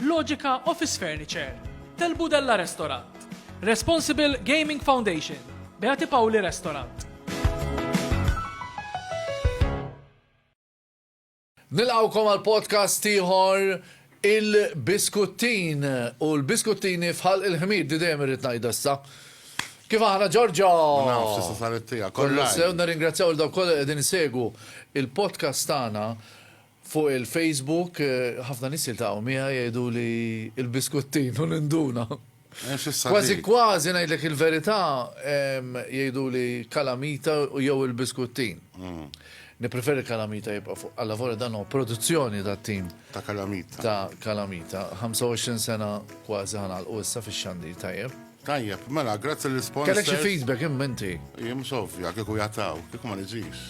Logica Office Furniture, Tel Budella Restaurant, Responsible Gaming Foundation, Beati Pauli Restaurant. Nilqawkom għal podcast ieħor il-biskuttin u l-biskuttini fħal il-ħmir di dejjem irrid ngħidha issa. Kif aħna Ġorġo? Naf, tista' saret tiegħek. Kollu sew nirringrazzjaw il dawk kollha qegħdin isegwu il-podcast tagħna Fuq il-Facebook ħafna nies jiltaqgħu miegħi jgħiduli l-biskuttin u ninduna. Kważi kważi ngħidlek il-verità jgħiduli kalamita jew il-biskuttin. Nippreferi kalamita jibqa' fuq allavolja dan huwa produzzjoni tat-tim. Ta' kalamita. Ta' kalamita. 25 sena kważi ħa nagħlqu issa fix-xandir tajjeb. Tajjeb, mela, grazzi l sponsor Kellek xi feedback imma inti. Jien mhux ovvja kieku jataw, kieku ma niġix.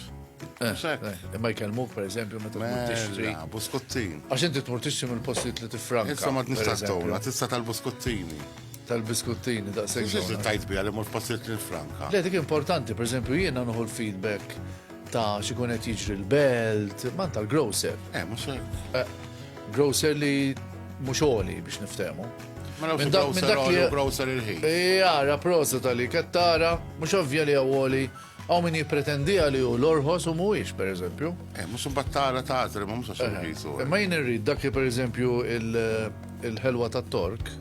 Eh, eh, imma jkellmuk per eżempju meta tmur mela, tixtri. Buskuttin. Għax inti tmur tixtri mill-postijiet li tifranka. Issa ma tnista' tona, tista' tal-buskuttini. Tal-biskuttini daqshekk. Xi tajt bija li mur postijiet li tifranka. Le dik importanti, per eżempju jiena nħu l-feedback Ta' x'ikun qed jiġri l-belt, man tal-grocer. Eh, mhux hekk. Eh, grocer li mhux oli biex niftehmu. Ma nafx grocer oli u grocer il-ħin. Jara, prosa tal-li kattara, mhux ovvja li għawoli Għaw min jipretendija li u l-orħos u muwix, per eżempju. Eh, mux battara ta' għazri, ma mux għaxu jisu. Ma jien irrid dak li, per eżempju, il-ħelwa ta' tork,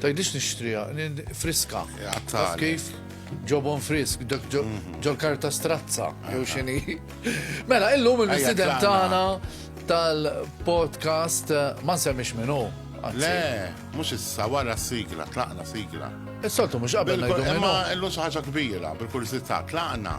Tgħidlix nixtriha, friska. Taf kif? Ġobon frisk, mhm. ġol karta strazza, jew xini. Mela, illum il-mistiden tagħna tal-podcast eh, ma nsemmix minnu. Le, mhux issa wara sigla, tlaqna sigla. Is-soltu mhux qabel ngħidu minnu. Imma illum xi ħaġa kbira, bil-kursità, tlaqna.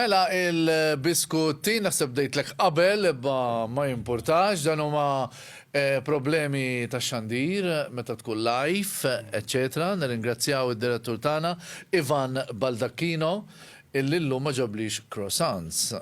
Mela il-biskutti, naħseb bdejtlek qabel imma ma jimpurtax, dan huma problemi tax-xandir meta tkun live, eċċetera Nirringrazzjaw id-direttur tagħna Ivan Baldacchino illi llum ma ġablix croissants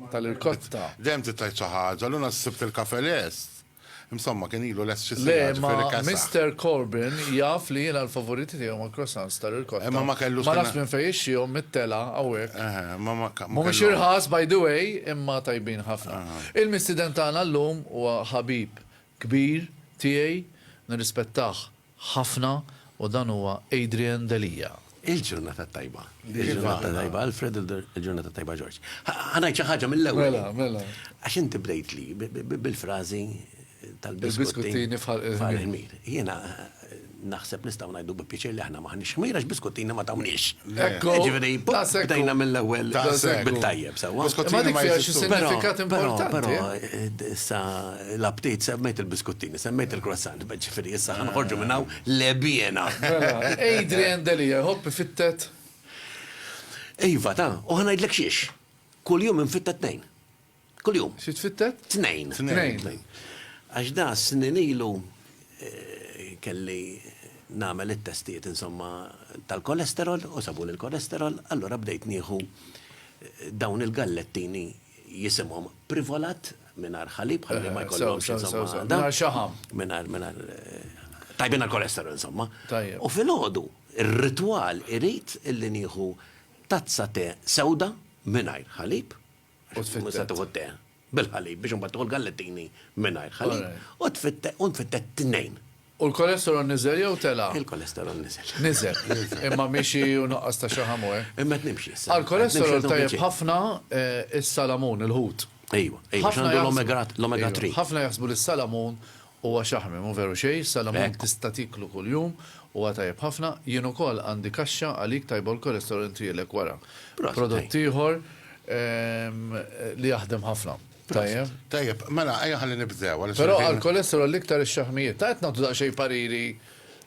tal-irkotta. Dejjem trid tgħid xi ħaġa, llum għad sibt il-kafe lest. Insomma, kien ilu lest xi siegħa, ġifieri kasaħ. Le, ma Mister Corbyn jaf li jiena l-favoriti tiegħi huma l-croissants ta' ricotta. Imma ma kellux. Ma nafx minn fejn ixtrihom, mit-telgħa hawnhekk. Eħe, imma ma kellux. Mhumiex irħas, by the way, imma tajbin ħafna. Il-mistieden tagħna llum huwa ħabib kbir tiegħi, nirrispettah ħafna u dan huwa Adrian Delia. Il-ġurnata tajba. Il-ġurnata tajba Alfred, il-ġurnata tajba Ġorġ. Ħa ngħid xi ħaġa mill-ewwel. Mela, mela. Għax inti bdejtli bil-frażi tal-biskuttini fal-ħmir. Jiena naħseb nistgħu ngħidu bi pjaċir li aħna maħniex ħmir għax biskuttini ma tawniex. Ekku. Ġifieri, bdejna mill-ewwel bit-tajjeb sewwa. Biskuttini ma jfissirx signifikat importanti. Però, però, sa l-aptit, semmejt il-biskuttini, semmejt il-croissant, beh ġifieri issa ħa noħorġu minn hawn lebhiena. Mela, Adrian Delia jħobb ifittet? Iva ta, u ħa ngħidlek xiex. Kuljum infittet tnejn. Kuljum. Xi tfittet? Tnejn. Tnejn. Għax da snin ilu eh, kelli nagħmel it-testijiet insomma tal-kolesterol u sabu l-kolesterol, allura bdejt nieħu eh, dawn il-gallettini jisimhom privolat mingħajr ħalib ħalli ma jkollhomx insomma. Mingħajr xaħam. Mingħajr mingħajr tajbin għall-kolesterol insomma. Tajjeb. U filgħodu ir-ritwal irid illi nieħu tazza te sewda mingħajr ħalib. U tfittet. Mhux se tieħu te bil-ħalib biex imbagħad tieħu l-gallettini mingħajr ħalib. U tfittet u nfittet tnejn. U l-kolesterol niżel jew tela'? Il-kolesterol niżel. Niżel. Imma mixi u nuqqas ta' xaħam hu, eh? Imma qed nimxi issa. Għall-kolesterol tajjeb ħafna s-salamun, il-ħut. Ejwa, ejwa, x'għandu l-omega 3. Ħafna jaħsbu li s-salamun huwa xaħmi, mhu veru xejn, is-salamun tista' tieklu kuljum, huwa tajjeb ħafna. Jien ukoll għandi kaxxa għalik tajba u l-kolesterol intrielek wara. Prodott ieħor li jaħdem ħafna. Tajjeb. Tajjeb, mela, ejja ħalli nibdew. Però għal kolesterol l-iktar ix-xaħmijiet. Ta' qed nagħtu daqsxejn pariri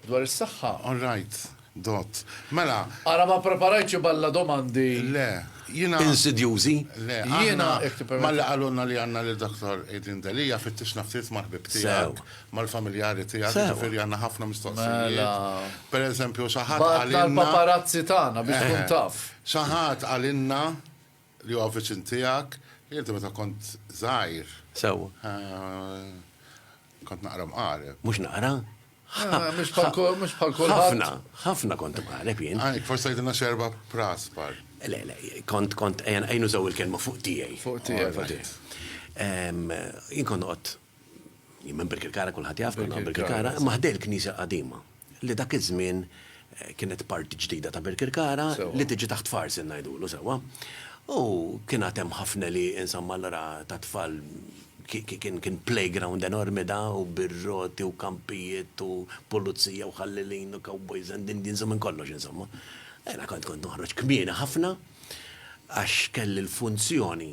dwar is-saħħa. All right, dott. Mela. Ara ma ppreparajtx iballa domandi. Le, jiena. Insidjużi? Le, jiena. Malli qalulna li għandna lil Dottor Adrian Delia fittixna ftit mal-ħbieb tiegħek, mal-familjari tiegħek, jiġifieri għandna ħafna mistoqsijiet. Mela. Pereżempju, xi ħadd qalilna. Bagħatna l-paparazzi tagħna biex tkun taf. Xi ħadd qalilna Li huwa viċin tiegħek. Inti meta kont żgħir. Sewwa. Kont naqra mqareb. Mhux naqra? Mhux bħal kull, mhux bħal kulħadd. Ħafna, ħafna kont imqareb jien. Għalhekk forsi tgħidilna xi erba' praspar. Le, le, kont, kont, ejja nużaw il-kelma fuq tiegħi. Fuq tiegħek. Jien kont noqgħod Jien minn Birkirkara kulħadd jaf konna Birkirkara, imma ħdej il-Knisja l-Qadima li dak iż-żmien eh, kienet parti ġdida ta' Birkirkara li tiġi taħt farsi ngħidulu sewwa. U kien għad hemm ħafna li insomma allura ta' tfal kien playground enormi da u birroti u kampijiet u pulizija u ħallilin u cowboys and Indians u minn kollox insomma. Ena kont kont noħroġ kmieni ħafna għax kelli l-funzjoni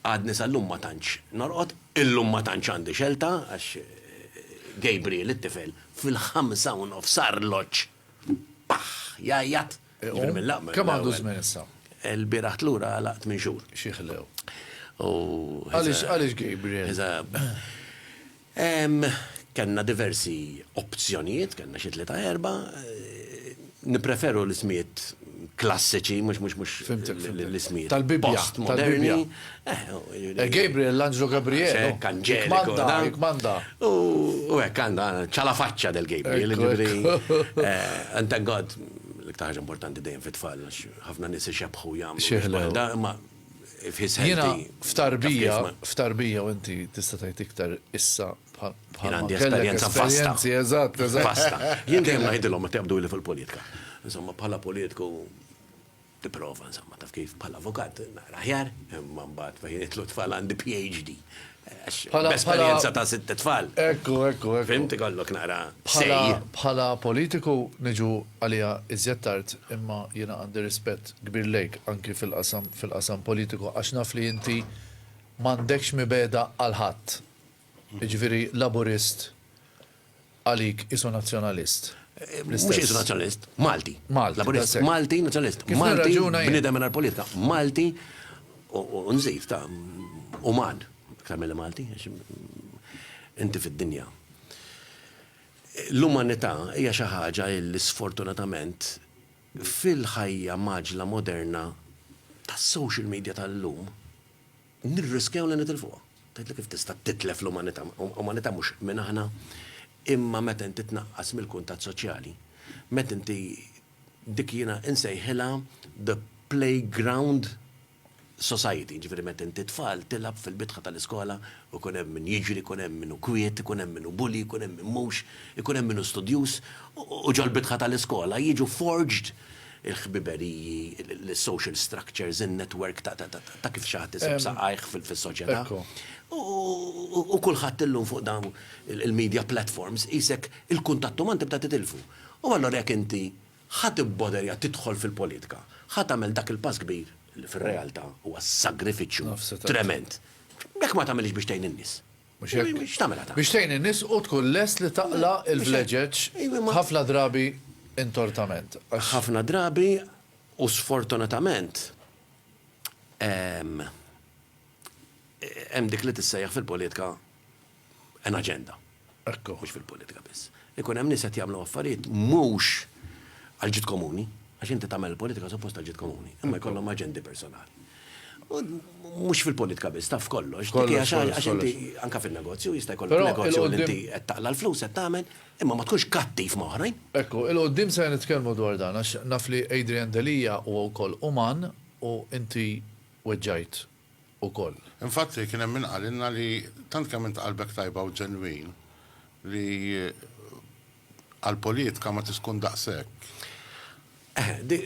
Għadni sal-lum ma tantx norqod, illum ma tantx għandi xelta għax Gabriel it-tifel fil-ħamsa u nofs sar loċ paħ jgħajjat. Iqum? Kemm għandu żmien issa? Ilbieraħ tlura għalaq tmien xhur. Xi ħlew. U. Għaliex Gabriel? Kellna diversi opzjonijiet, kellna xi tlieta erba'. Nippreferu l-ismijiet klassiċi, mhux mhux mhux l-ismijiet. Tal-Bibbja. Tal-Bibbja. Gabriel, l-Anġlu Gabriel. Hekk, Anġeliku. Hekk manda. U hekk għandha ċala faċċa del Gabriel, jiġifieri. And thank God, l-iktar ħaġa importanti dejjem fit-tfal, ħafna nies ixebbħu jagħmlu. Xieħ le. Imma Jiena f'tarbija, f'tarbija u inti tista' tgħid iktar issa bħal bħal għandi esperjenza vasta. Eżatt, eżatt. Vasta. Jien dejjem ngħidilhom ma tebdu li fil-politika. Insomma, bħala politiku tipprova, insomma, taf kif bħala avukat naqra aħjar, imma mbagħad fejn itlu tfal għandi PhD. Esperjenza ta' sitt tfal. Ekku, ekku, ekku. Fimt ikollok naqra say. Bħala politiku niġu għaliha iżjed tard imma jiena għandi rispett kbir lejk anki fil-qasam politiku għax naf li inti m'għandekx mibegħda għal ħadd. Jiġifieri Laburist, Għalik qisu Nazzjonalist. Mhux qisu Nazzjonalist. Malti. Malti. Laburist. Malti Nazzjonalist. Kif nirraġuna jien. Bniedem mingħajr politika. Malti u nżid ta' uman aktar milli Malti għax inti fid-dinja. L-umanità hija xi ħaġa li sfortunatament fil-ħajja mgħaġġla moderna tas-social media tal-lum Nirriskjaw li nitilfuha. Tgħidli kif tista' titlef l-umanità? Umanità mhux min aħna, imma meta inti tnaqqas mill-kuntatt soċjali, meta inti dik jiena insejħilha the playground society, jiġifieri meta inti tfal tilgħab fil-bitħa tal-iskola u jkun hemm min jiġri, jkun hemm min hu kwiet, ikun hemm min hu bully, jkun hemm min mhux, ikun hemm min hu studjuż, u ġol-bitħa tal-iskola jiġu forged il-ħbiberiji, l-social structures, in-network ta' kif xi ħadd isib saqajh fis-soċjetà. U kulħadd illum fuq dawn il-media platforms qisek il-kuntatt uman tibda titilfu. U allura jekk inti ħa tibboderja tidħol fil-politika, ħa tagħmel dak il-pass kbir li fir-realtà huwa sagrifiċċju tremend, jekk ma tagħmilhiex biex tgħin in-nies. Mhux hekk? Biex tagħmilha ta'. Biex tgħin in-nies u tkun lest li taqla' l-vleġeġ ħafna drabi intortament. Għax. Ħafna drabi u sfortunatament hemm dik li tissejjaħ fil-politika an agenda. Ekku. Mhux fil-politika biss. Ikun hemm nies qed jagħmlu affarijiet mhux għall-ġid komuni, għax inti tagħmel il-politika suppost għall-ġid komuni, imma jkollhom aġendi personali. U mhux fil-politika biss, taf f'kollox. Dik hija xi ħaġa għax inti anke fin-negozju jista' jkollok negozju li inti qed taqla' l-flus qed tagħmel, imma ma tkunx kattiv ma' oħrajn. Ekku, 'il quddiem ser nitkellmu dwar dan għax naf li Adrian Delia huwa wkoll uman u inti weġġajt ukoll. Infatti, kien hemm min qalilna li tant kemm int qalbek tajba u ġenwin li għall-politka ma tix tkun daqshekk. Eh, dik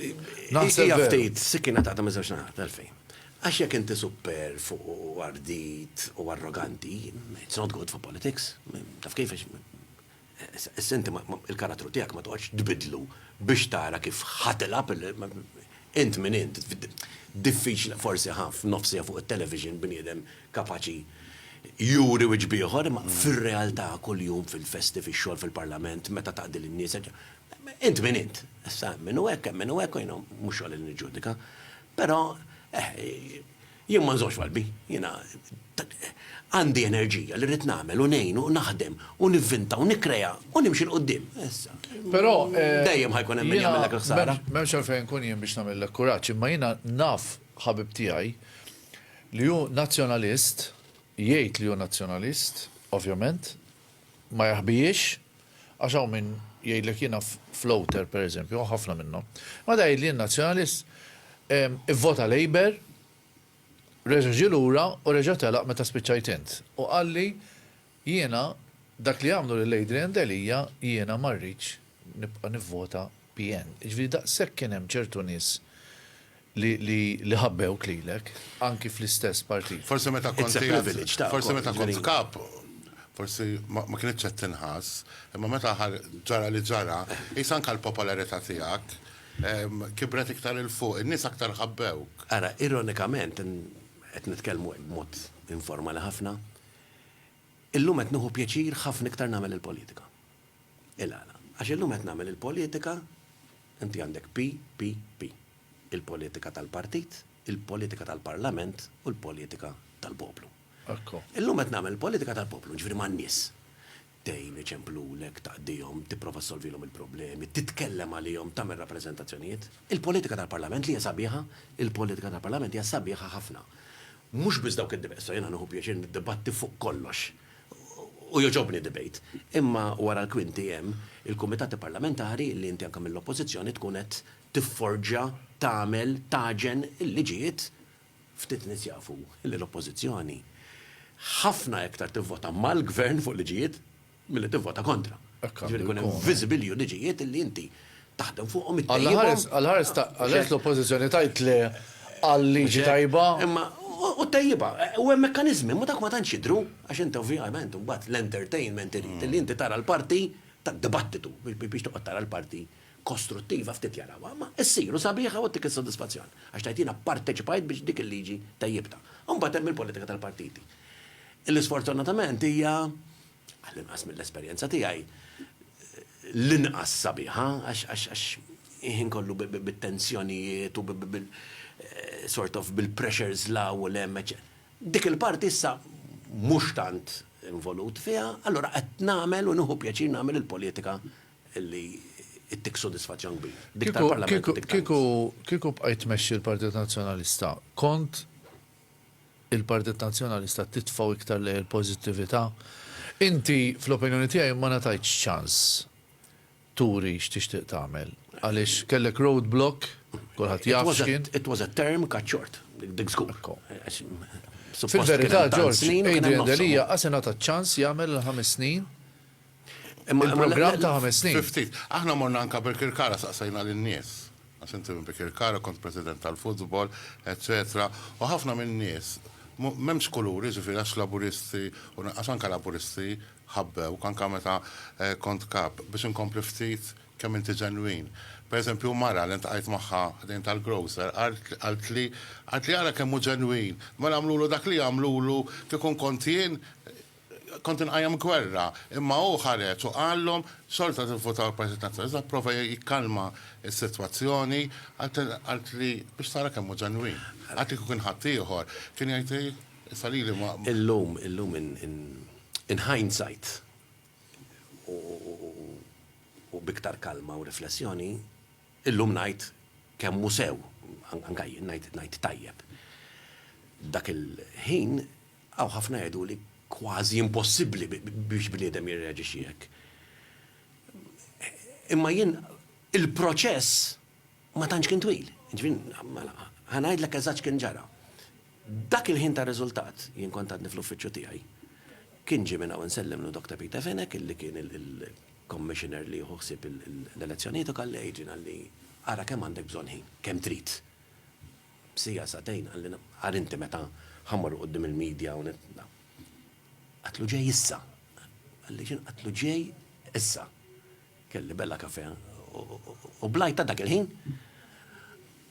hija ftit sikkina taqta' miż-żewġ naħat. Għalfejn? Għax jekk inti supperv u ardit u arroganti, it's not good for politics. Taf kif? Għax Issa inti l-karattru tiegħek ma toqgħodx tbiddlu biex tara kif ħa tilgħab int min int. Diffiċli forsi ħa f'nofsiha fuq it-television bniedem kapaċi juri wiċċ b'ieħor imma fir-realtà kuljum fil-festi, fix-xogħol, fil-parlament, meta taqdi lin-nies, int min int. Issa hemm min hu hekk, hemm min hu hekk u jiena mhux xogħli li niġġudika. Però, eh, Jien ma nżommx f'qalbi. Jiena għandi enerġija li rrid nagħmel u ngħin u naħdem u nivvinta u nikkrea u nimxi 'l quddiem. Però, dejjem ħa jkun hemm min jagħmillek il-ħsara. Jiena m'hemmx għalfejn inkun jien biex nagħmillek kuraġġ, imma jiena naf ħabib tiegħi li hu Nazzjonalist, jgħid li hu Nazzjonalist, ovvjament, ma jaħbihiex. Għax hawn min jgħidlek jiena floater per eżempju, hawn ħafna minnhom. Imbagħad jgħid li jien Nazzjonalist, ivvota Labour, reġa' ġie lura u reġa' telaq meta spiċċajt int. U qalli jiena dak li għamlu lil Adrian Delia jiena ma rridx nibqa' nivvota PN. Jiġifieri daqshekk kien hemm ċertu nies li ħabbewk lilek, anki fl-istess partit. Forsi meta kont qiegħed. It's a privilege tagħkom. Forsi meta kont kap, forsi ma kinitx qed tinħass, imma meta ġara li ġara, qis anke l-popolarità tiegħek kibret iktar 'il fuq, in-nies aktar ħabbewk. Ara, ironikament, qed nitkellmu hekk b'mod informali ħafna, illum qed nieħu pjaċir ħafna iktar nagħmel il-politika. Il-għala? Għax illum qed nagħmel il-politika, inti għandek PPP. il-politika tal-partit, il-politika tal-parlament u l-politika tal-poplu. Illum qed nagħmel il-politika tal-poplu, jiġifieri man-nies. Tgħin, iċemplulek, taqdihom, tipprova ssolvilhom il-problemi, titkellem għalihom, tagħmel rappreżentazzjonijiet. Il-politika tal-parlament li hija sabiħa, il-politika tal-parlament hija sabiħa ħafna. Mhux biss dawk id-dib, issa jiena nieħu pjaċir niddibatti fuq kollox u jogħġobni debate. Imma wara l-kwinti hemm il-kumitati parlamentari li inti anke mill-Oppożizzjoni tkun qed tifforġa, tagħmel, tagħġen il-liġijiet, ftit nies jafu li l-Oppożizzjoni ħafna iktar tivvota mal-Gvern fuq liġijiet milli tivvota kontra. Hekk għandu jkun. Jiġifieri jkun hemm viżibilju liġijiet li inti taħdem fuqhom, ittejjibhom. Għall-ħares ta' għaliex l-Oppożizzjoni tgħid le għal liġi tajba. Imma u ttejjibha. U hemm mekkaniżmi, imma dawk ma tantx jidhru għax inti ovvjament imbagħad l-entertainment irid li inti tara l-parti tad-dibattitu biex toqgħod tara l-parti. kostruttiva ftit jarawha, imma issir u sabiħa u ttik is-sodisfazzjon, għax tgħid jiena pparteċipajt biex dik il-liġi tejjibtha. U mbagħad hemm il-politika tal-partiti, li sfortunatament hija, għall-inqas mill-esperjenza tiegħi, l-inqas sabiħa, għax il-ħin kollu bit-tensjonijiet u sort of bil-pressures 'l hawn u 'l hemm, eċċe. Dik il-parti issa mhux tant involut fiha, allura qed nagħmel u nieħu pjaċir nagħmel il-politika li ttik sodisfaċċjon kbir. Dik tal-Parlament u dik tal-Kunsill. Kieku, kieku, kieku bqajt tmexxi l-Partit Nazzjonalista, kont il-Partit Nazzjonalista titfgħu iktar lejn il-pożittività? Inti, fl-opinjoni tiegħi, ma ngħatajtx ċans turi x'tixtieq tagħmel. Għaliex kellek road block, kulħadd jaf x'kien. It was a term cut short, dik żgur. Fil-verità, Ġorġ, Adrian Delia qas ingħata ċ-ċans jagħmel il-ħames snin Imma Il-programm ta' ħames snin. Fi ftit. Aħna morna anke Birkirkara saqsejna lin-nies, għax inti minn Birkirkara, kont president tal-futbol, eċċetera, u ħafna min-nies, m'hemmx kulur, jiġifieri għax Laburisti, u għax anke Laburisti ħabbewk, anke meta kont Kap, biex inkompli ftit kemm inti ġenwin. Per eżempju mara li ltqajt magħha ħdejn tal-grocer qaltli, qaltli ara kemm hu ġenwin, mela għamlulu dak li jagħmlulu kieku nkont jien, Kont inqajjem gwerra, imma hu ħareġ u qallhom, xorta tivvutaw l-Partit Nazzjonalista, pprova jikkalma s-sitwazzjoni, għidt li biex tara kemm hu ġenwin. Għad li kieku kien ħaddieħor, kien jgħid hi, issa lili ma. Illum, illum in hindsight u b'iktar kalma u riflessjoni, illum ngħid kemm hu sew, anke jien ngħid tajjeb. Dak il-ħin. Hawn ħafna jgħidu li kważi impossibbli biex bniedem jirreaġixxi hekk. Imma jien il-proċess ma tantx kien twil. Jiġifieri mela ħa ngħidlek eżatt x'kien ġara. Dak il-ħin tar-riżultat, jien kont għadni fl-uffiċċju tiegħi, kien ġie minn hawn insellimlu Doctor Peter Fenech illi kien il-Commissioner li jieħu ħsieb l-elezzjonijiet u qalli, Adrian, qalli, ara kemm għandek bżonn ħin, kemm trid. B'siegħa sagħtejn qalli naqar inti meta ħa mmorru quddiem il-media u Qatlu ġej issa. Qalli x'inhu qatlu ġej issa. Kelli bella kafè u blajt ta' dak il-ħin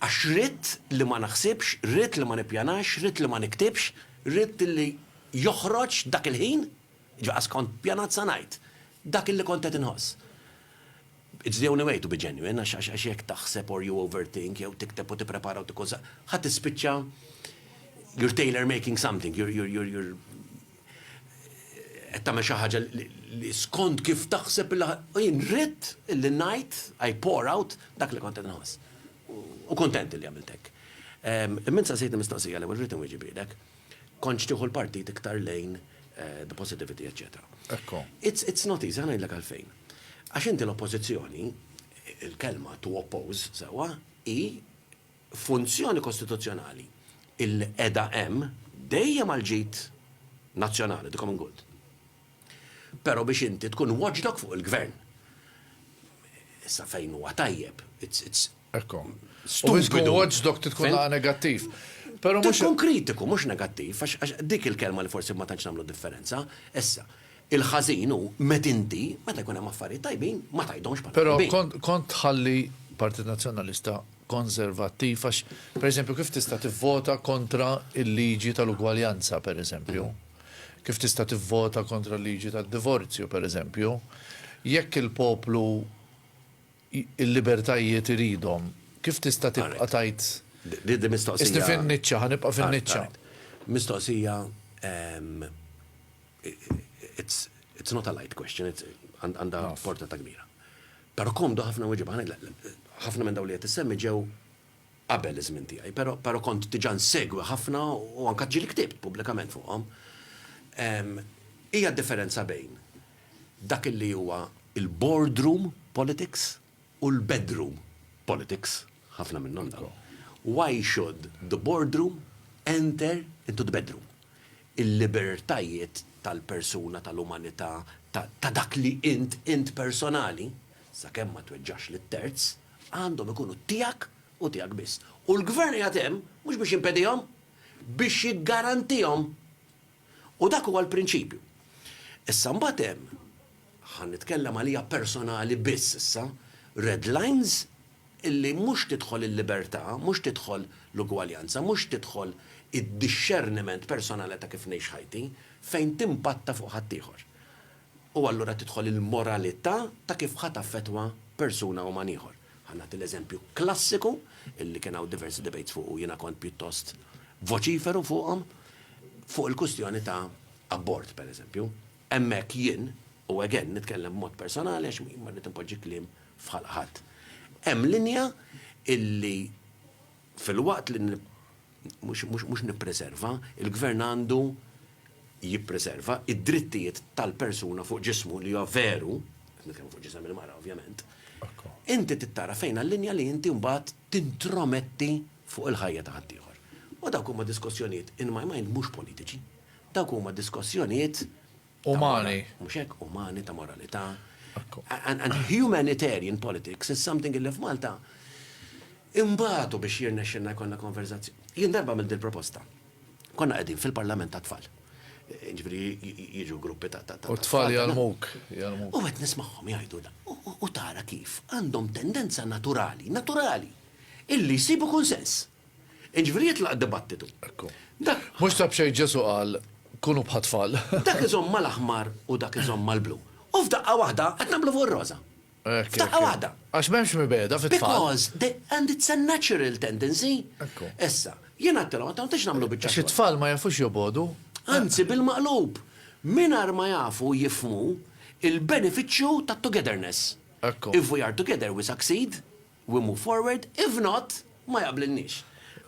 għax ridt li ma naħsibx, ridt li ma nippjanax, ridt li ma niktibx, ridt li joħroġ dak il-ħin. Ġaqas kont pjanat sa ngħid. Dak illi kont qed inħoss. It's the only way to be genuine għax għax jekk taħseb or you overthink jew tikteb u tipprepara u tikkun sa ħa tispiċċa you're tailor making something, you're you're you're you're qed tagħmel xi ħaġa li skont kif taħseb li u jien ridt illi ngħid I pour out dak li kont qed inħoss. U kuntent illi għamilt hekk. Imma int saqsejtni mistoqsija l-ewwel rrid inwieġibilek. Kontx tieħu l-partit iktar lejn the positivity eċċetera. Ekku. It's, it's not easy, ħa ngħidlek għalfejn. Għax inti l-oppożizzjoni, il-kelma to oppose, sewwa, hi funzjoni kostituzzjonali illi qiegħda hemm dejjem għall-ġid nazzjonali, the common good. Pero biex inti tkun watchdog fuq il-gvern. Issa fejn huwa tajjeb, it's it's. Ekku. U biex tkun watchdog trid tkun negattiv. Pero mhux. Tkun kritiku mhux negattiv għax dik il-kelma li forsi ma tantx nagħmlu differenza. Issa, il-ħażin hu met inti meta jkun hemm affarijiet tajbin ma tgħidhomx bħala tajbin. Pero kont kont tħalli Partit Nazzjonalista konservattiv għax pereżempju kif tista' tivvota kontra il-liġi tal-ugwaljanza pereżempju. Kif tista' tivvota kontra l-liġi tad-divorzju, pereżempju? Jekk il-poplu l-libertajiet iridhom, kif tista' tibqa' tgħid, Isni fin-niċċa, ħa nibqa' fin-niċċa? Mistoqsija, it's not a light question, għandha portata kbira. Però komdu ħafna nweġibha, ħafna minn dawn li qed issemmi ġew, qabel iż-żmien tiegħi, pero, pero kont diġà nsegwi ħafna u anke ġieli ktibt pubblikament fuqhom. Ehm, hija d-differenza bejn dak illi huwa il-boardroom politics u l-bedroom politics, ħafna minnhom dawn. Why should the boardroom enter into the bedroom? Il-libertajiet tal-persuna, tal-umanità, ta', ta dak li int, int personali, sakemm ma tweġġax lit-terz, Għandhom ikunu tiegħek u tiegħek biss. U l-Gvern qiegħed hemm mhux biex jimpedihom, biex jiggarantihom. U dak huwa l-prinċipju. Issa mbagħad hemm, ħa nitkellem għalija personali biss issa, red lines illi mhux tidħol il-libertà, mhux tidħol l-ugwaljanza, mhux tidħol id-dixxerniment personali ta' kif ngħix ħajti, fejn timpatta fuq ħaddieħor. U allura tidħol il-moralità ta' kif ħa taffettwa persuna u man ieħor. Ħa nagħti l-eżempju klassiku, illi kien hawn diversi debates fuq u jiena kont pjuttost voċiferu fuqhom, fuq il-kwistjoni ta' abort, pereżempju. Hemmhekk jien, u again nitkellem b'mod personali għax ma rrid inpoġġi kliem f'ħalq ħadd, hemm linja illi filwaqt li mhux nippreserva, il-gvern għandu jippreserva id-drittijiet tal-persuna fuq ġismu li huwa veru, qed nitkellmu fuq ġisem il-mara ovvjament, inti tittara fejn għal-linja li inti mbagħad tintrometti fuq il-ħajja ta' ħaddieħor. U dawk huma diskussjonijiet in my mind mhux politiċi. Dawk huma diskussjonijiet Umani. Mhux hekk umani ta' moralità. And humanitarian politics is something illi f'Malta imbagħtu biex jirnexxinna jkollna konverzazzjoni. Jien darba mill proposta. Konna qegħdin fil-Parlament tat-tfal. Ġifieri jiġu gruppi ta' ta' U tfal jarmuk, jarmuk. U qed nismagħhom jgħidu u tara kif għandhom tendenza naturali, naturali, illi jsibu kunsens. Jiġifieri jitlaq dibattitu. Ekku. Mhux ta' b'xejn Ġesù qal, Kunu bħat-tfal. Dak iżomm mal-aħmar u dak iżomm mal-blu. U f'daqqa waħda qed naqblu fuq ir-roża. Hekk, hekk. F'daqqa waħda. Għax m'hemmx mibegħda fit-tfal. Because they, and it's a natural tendency. Ekku. Issa, jien għedtilhom, għedtilhom tgħidx nagħmlu biċċa xogħol. Għax it-tfal ma jafux jobogħdu. Anzi, bil-maqlub. Mingħajr ma jafu jifhmu l-benefiċċju tat-togetherness. Ekku. If we are together we succeed. We move forward, if not, ma jaqblilniex.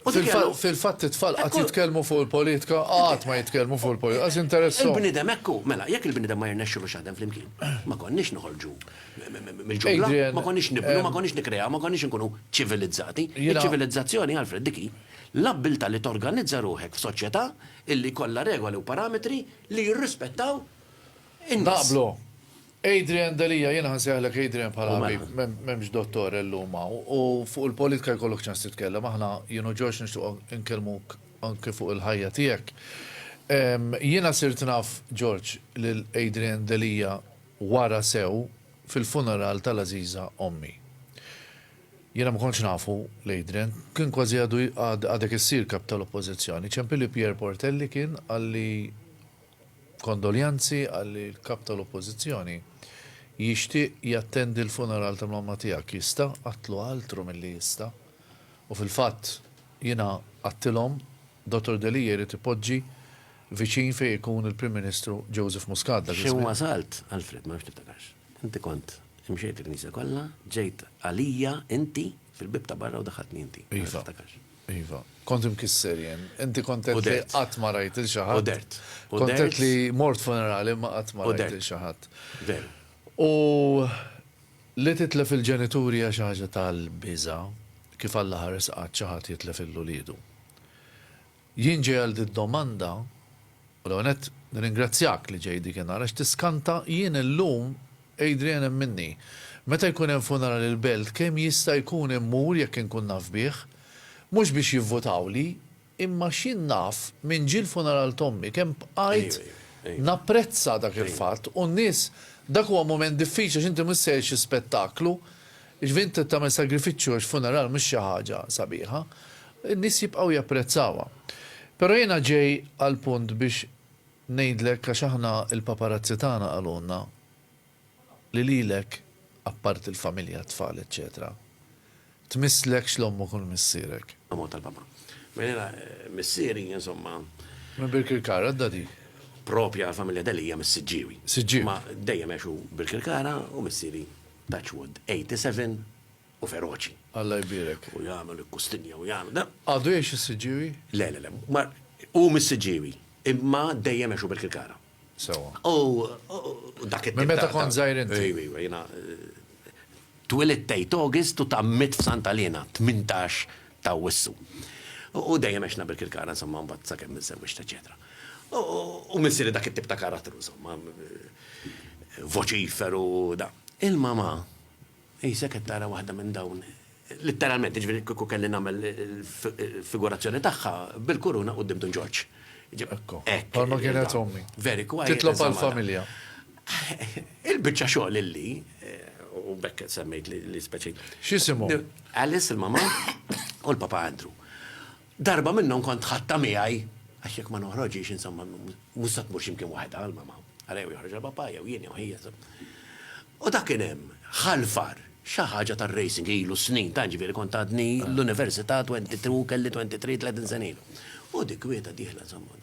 U dik hija l-. Fil-fatt it-tfal qatt jitkellmu fuq il-politika, qatt ma jitkellmu fuq il-politika, għax jinteressahom. Il-bniedem hekk hu. Mela, jekk il-bniedem ma jirnexxilux jaħdem flimkien, ma konniex noħorġu mill-ġungla, ma konniex nibnu, ma konniex nikkreaw, ma konniex inkunu ċivilizzati. Iċ-ċivilizzazzjoni, Alfred, dik hi l-abbiltà li torganizza ruħek f'soċjetà illi jkollha regoli u parametri li jirrispettaw in-nies. Naqblu. Adrian Delia, Jiena ħa nsejħlek Adrian bħala ħabib, m'hemmx dottor illum hawn, u fuq il-politika jkollok ċans titkellem, aħna jien u George nixtiequ nkellmuk anke fuq il-ħajja tiegħek. Jiena sirt naf, George, lil Adrian Delia wara sew fil-funeral tal-għażiża ommi. Jiena ma kontx nafu 'l Adrian, kien kważi għadu għadek issir Kap tal-Oppożizzjoni, ċempilli Pierre Portelli kien qalli, Kondoljanzi qalli l-Kap tal-Oppożizzjoni. Jixtieq jattendi l-funeral ta' mamma tiegħek. Jista'? Għadtlu altru milli jista'. U fil-fatt, jiena għadtilhom, Dottor Delia jrid ipoġġi viċin fejn ikun il-Prim Ministru Joseph Muscat dak iż-żmien. X'imn wasalt, Alfred, ma nafx tiftakarx. Inti kont imxejt il-knisja kollha, ġejt għalija inti fil-bieb ta' barra u daħħaltni inti. Iva. Ma nafx tiftakarx. Iva. Kont imkisser jien. Inti kont għedt li qatt ma rajt lil xi ħadd. U dert. Kont għedt li mort funerali imma qatt ma rajt lil xi ħadd. Veru. U li titlef il-ġenituri hija xi ħaġa tal-biża' kif Alla ħares qatt xi ħadd jitlef lil uliedu. Jien ġej għal did-domanda U l-ewwel nett nirringrazzjak li ġej dik in-nhar għax tiskanta jien illum Adrian hemm minni. Meta jkun hemm funeral il-belt kemm jista' jkun immur jekk inkun naf bih. Mhux biex jivvutawli imma x'jien naf minn ġie l-funeral t'ommi kemm bqajt napprezza dak il-fatt u n-nies dak huwa mument diffiċli għax inti mhux sejjer xi spettaklu Jiġifieri inti tagħmel sagrifiċċju għax funeral mhux xi ħaġa sabiħa. In-nies jibqgħu japprezzawha. Però jiena ġej għall-punt biex ngħidlek għax aħna l-paparazzi tagħna qalulna li lilek, apparti l-familja, t-tfal eċċetera, tmisslekx l-ommok u l-missierek. Ammont tal-papa. Mela jiena missieri insomma. Minn Birkirkara, għadda dik. Proprja l-familja Delia mis-Siġġiewi. Siġġiewi. Imma dejjem għexu Birkirkara u missieri Touch wood, 87 u feroċi. Alla jbierek. U jagħmel il-kustinja u jagħmel da. Għadu jgħix is-Siġġiewi? Le, le, le. Ma hu mis-Siġġiewi, imma dejjem għexu Birkirkara. Sewwa. U dak it-tip ta'. Minn meta kont żgħir inti? Ejw, ejw, jiena twilidt tgħid August u tgħammidt f'Santa Liena, 18 ta' Awwissu. U dejjem għexna Birkirkara, insomma, mbagħad sakemm inżewwiġt, eċċetera. U missieri dak it-tip ta' karattru, insomma. voċiferu u da. Il-mamà qisek qed tara waħda minn dawn, litteralment, jiġifieri kieku kelli nagħmel il-figurazzjoni tagħha, bil-kuruna quddiem Dun Ġorġ. Ekku. Hekk. Bħalma kienet ommi. Very quiet. Titlob għall-familja. Il-biċċa xogħol illi, u b'hekk semmejt li speċi. X'isimhom? Alice, il-mamà, u l-papa Andrew. Darba minnhom kont ħadtha miegħi, għax jekk ma noħroġhiex, insomma, mhux se tmur x'imkien waħedha, għal mama. Ara jew joħroġha papà, jew jien, jew hi, insomma. U dak kien hemm, ħalfar, xi ħaġa tar-racing, ilu snin, tant, ġifieri kont għadni l-università, twenty two, kelli twenty three, tletin sena ilu. U dik kwieta dieħla, insomma.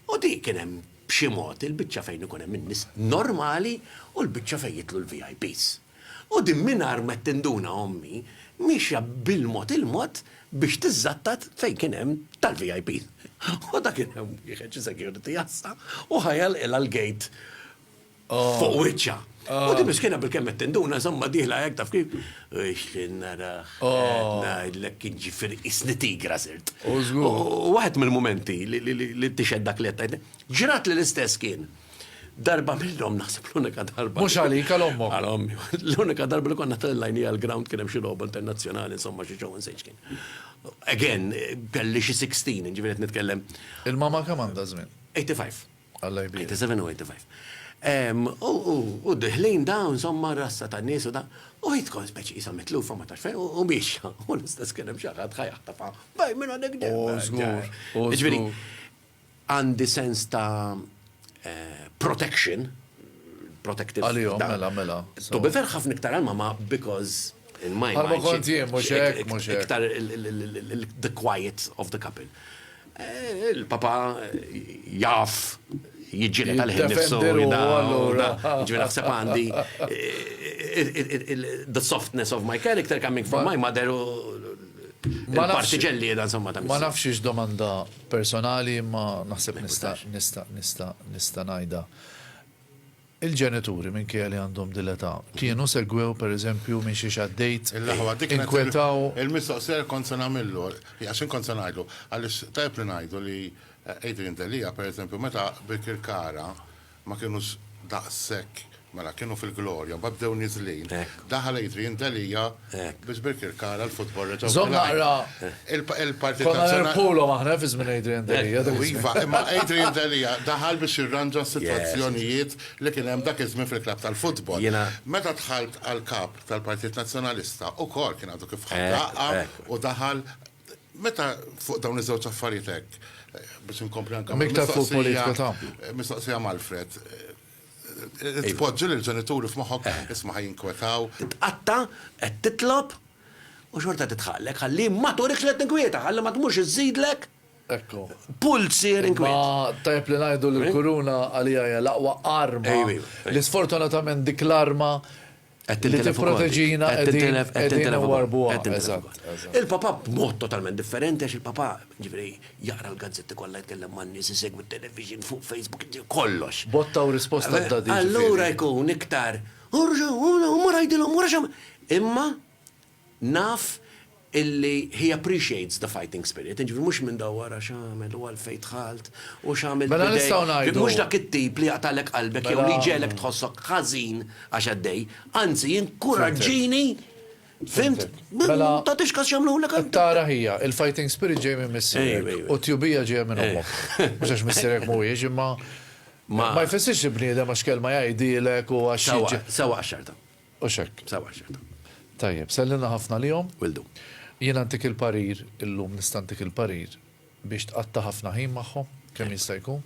U dik kien hemm b'xi mod il-biċċa fejn ikun hemm in-nies normali u l-biċċa fejn jidħlu l-VIPs. U din mingħajr ma tinduna ommi miexja bil-mod il-mod biex tiżżattat fejn kien hemm tal-VIP. U ta' kien hemm wieħed xi security għassa u ħa jagħlqilha l-gate fuq wiċċha. U din miskina bilkemm qed tinduna żommha dieħla hekk taf kif, u x'li naraha, qed ngħidlek kien ġifieri qisni tigra sirt. U żgur. U waħed mill-mumenti li tixhed dak li qed tgħid, ġratli l-istess kien. Darba minnhom naħseb l-unika darba. Mhux għalik għal ommok. Għal ommi. L-unika darba li konna tal-lajni għal-ground kien hemm xi logħba internazzjonali insomma xi ġew insejx kien. Again, kelli xi 16, ġifieri qed nitkellem. Il-mama kemm għandha żmien? 85. Alla jbir. 87 u 85. U diħlin da, insomma, rassa ta' nies u da, u jitkon speċi jisa mitlufa ma tax fejn, u biex, u l-istess kienem xaħat ħajħtafa, baj minna dik ġemma. Ġviri, Għandi sens ta' protection, protective. Għalihom, mela, mela. To be fair, ħafna iktar għal mama because in my mind. Bħalma kont jien, mhux hekk, mhux hekk. Iktar the quiet of the couple. Eh, il-papa jaf jiġġieled għal ħin nifsu. Ġifieri naħseb għandi the softness of my character coming from my mother u l-partiġelli da insomma ta' Ma nafx domanda personali imma naħseb nista' nista' nista' nista' ngħidha. Il-ġenituri minkejja li għandhom dil-età kienu segwew pereżempju minn xiex għaddejt, inkwetaw. Il-mistoqsija kont se nagħmillu, għax inkont se ngħidlu, għaliex tajjeb li ngħidu li Adrian Delia pereżempju meta Birkirkara Ma kinux daqshekk, mela, kienu fil-glorja, mbagħad bdew niżlin. Daħal Adrian Delia biex birkirkara l-futbol reġgħu. Żomm naqra, konna nerbħulhom aħna fi żmien Adrian Delia. Iva, imma Adrian Delia daħal biex jirranġa s-sitwazzjonijiet li kien hemm dak iż-żmien fil-klabb tal-futbol. Meta dħalt għall-Kap tal-Partit Nazzjonalista, ukoll kien għadu kif ħa daqqa u daħal, Meta fuq dawn iż-żewġ affarijiet hekk, biex inkompli anke mistoqsija mal-Fred, tpoġġi lil ġenituri f'moħħok isma' ħaj jinkwetaw. Titqatta, qed titlob u xorta qed titħaqlek ħalli ma turikx li qed tinkwieta, ħalli ma tmurx iżżidlek pulz siher inkwiet. Imma tajjeb li ngħidu li l-kuruna għalija hija l-aqwa arma, li sfortunatament dik l-arma li tipproteġina qegħdin inwarbuha. Il-Papa b'mod totalment differenti għax il-Papa ġifieri jaqra l-gazzetti kollha jitkellem man-nies isegwi t-television fuq Facebook kollox. Botta u risposta għadha dik. Allura jkun iktar, u mur għidilhom, u mur għax għamel. Imma Naf illi he appreciates the fighting spirit, jiġifieri mhux minn dawwar għax għamel u għalfejn dħalt u x'għamilt b'idejk. Mela nistgħu ngħidu. Mhux dak it-tip li jaqtagħlek qalbek jew li jġegħlek tħossok ħażin għax għaddej, anzi jinkuraġġini, fhimt? Mela. Tagħtix kas x'għamlulek għal. Tara hija, il-fighting spirit ġej minn missierek u t-tjubija ġejja minn ommok. Mhux għax missierek mhuwiex imma ma jfissirx li bniedem għax kelma jgħidilek u għax. Sewwa, sewwa għax-xorta. Hux hekk? Sewwa, x'inhu. Tajjeb, sellilna ħafna għalihom. Will do. Jiena ntik il-parir, illum nista' ntik il-parir biex tqatta' ħafna ħin magħhom kemm jista' jkun.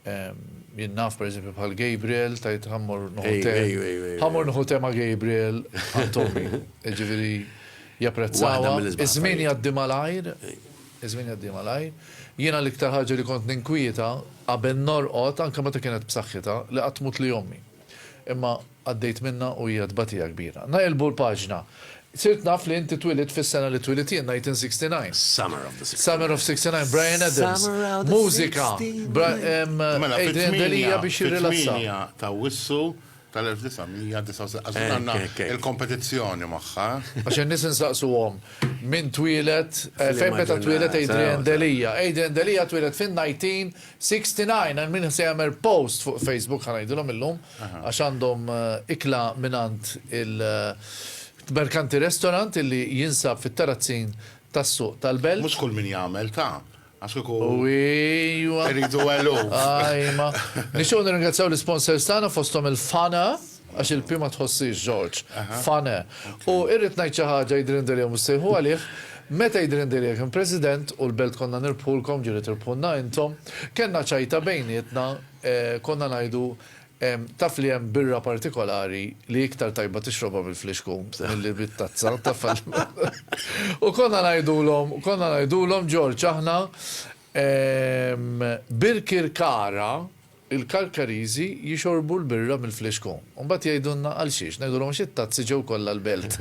Jien naf pereżempju bħal Gabriel tajt ħa mmur nieħu te. Ħa mmur nieħu te ma' Gabriel għand ommi. Jiġifieri japprezzawha. Iż-żmien jgħaddi malajr, iż-żmien jgħaddi malajr. Jiena l-iktar ħaġa li kont ninkwieta qabel norqod anke meta kienet b'saħħitha li qatt tmutli ommi. Imma Għaddejt minnha u hija tbatija kbira. Neqilbu l-paġna. Sirt naf li inti twilidt fis-sena li twilidt jien, 1969. Summer of the sixty nine. Summer of sixty nine, Bryan Adams. Mużika, Adrian Delia biex jirrilassa. Mela, fit-tmienja ta' Awwissu tal-1969. Għażin għandna il-kompetizzjoni magħha. Għax in-nies insaqsuhom min twieled, fejn meta twieled Adrian Delia. Adrian Delia twieled fin-1969 għal min se jagħmel post fuq Facebook ħa ngħidilhom illum. għax għandhom ikla mingħand il-Mercanti Restaurant illi jinsab fit-Terrazzin tas-Suq tal-Belt. Mhux kull min jagħmel ta, għax kieku rridu eluf. Ajma. Nixtiequ nirringrazzjaw l-isponsors tagħna fosthom il-Fana, għax il-P ma tħossiex George, Fana. U irrid ngħid xi ħaġa jidhirli ndiriehom issejħu għalih, meta jidhirli ndiri jekk kien President u l-Belt konna nirbħulkom ġieli tirbħulna intom, kellna ċajta bejnietna, Konna ngħidu, Taf li hemm birra partikolari li iktar tajba tixrobha bil-flixkun milli bit-tazza, taf għal. U konna ngħidulhom, konna ngħidulhom, Ġorġ, aħna Birkirkara, il-Karkariżi jixorbu l-birra mill-flixkun. U mbagħad jgħidulna għal xiex, ngħidulhom għax it-tazzi ġew kollha l-Belt.